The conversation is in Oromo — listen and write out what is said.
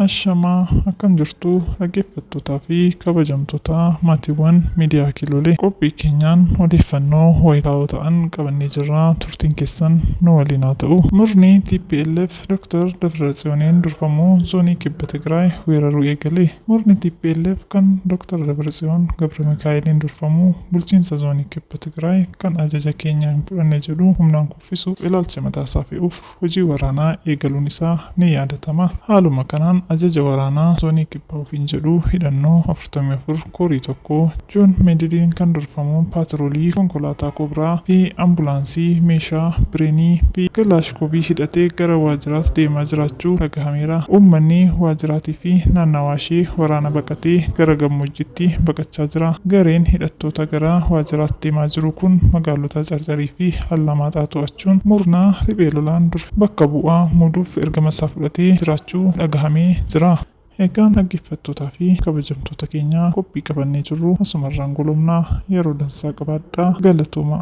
Ashamaa akkam jirtu dhaggeeffattootaa fi kabajamtoota maatiiwwan miidiyaa Kiloolee qophii keenyaan odeeffannoo wayitaawoo ta'an qabannee jirra turtiin keessan nu waliin haa ta'u. Murni tplf Doktar Dabratsiyooniin durfamu zoonii Kibba Tigraay weeraruu eegale. Murni tplf kan Doktar Dabratsiyoon Gabramikaa'eliin durfamu bulchiinsa zoonii Kibba Tigraay kan ajaja keenya hin fudhanne jedhu humnaan kuffisuuf ilaalcha mataasaa fe'uuf hojii waraanaa eegaluun isaa ni yaadatama. Haaluma kanaan ajaja waraanaa zoonii Kibbaa ofiin jedhu hidhannoo afurtamii afur, Korii 1, Joon Meediliin kan durfamu paatiroolii konkolaataa Kobraa fi ambulaansii meeshaa bireenii fi kalaashkoovii hidhatee gara waajjiraat deemaa jiraachuu dhagahameera. Uummanni waajjiraatii fi naannawaa ishee waraana baqatee gara gammoojjiitti baqachaa jira. Gareen hidhattoota gara waajjiraat deemaa jiru kun magaalota Carcarii fi Allamaaxaa to'achuun murna riphee lolaan durfee bakka bu'aa muuduuf ergama isaa fudhatee jiraachuu dhagahamee jira. Egaa dhaggeeffattootaa fi kabajamtoota keenya qophii qabannee jirru asumarraan golobna. Yeroo dansaa qabaadhaa. Galatoomaa.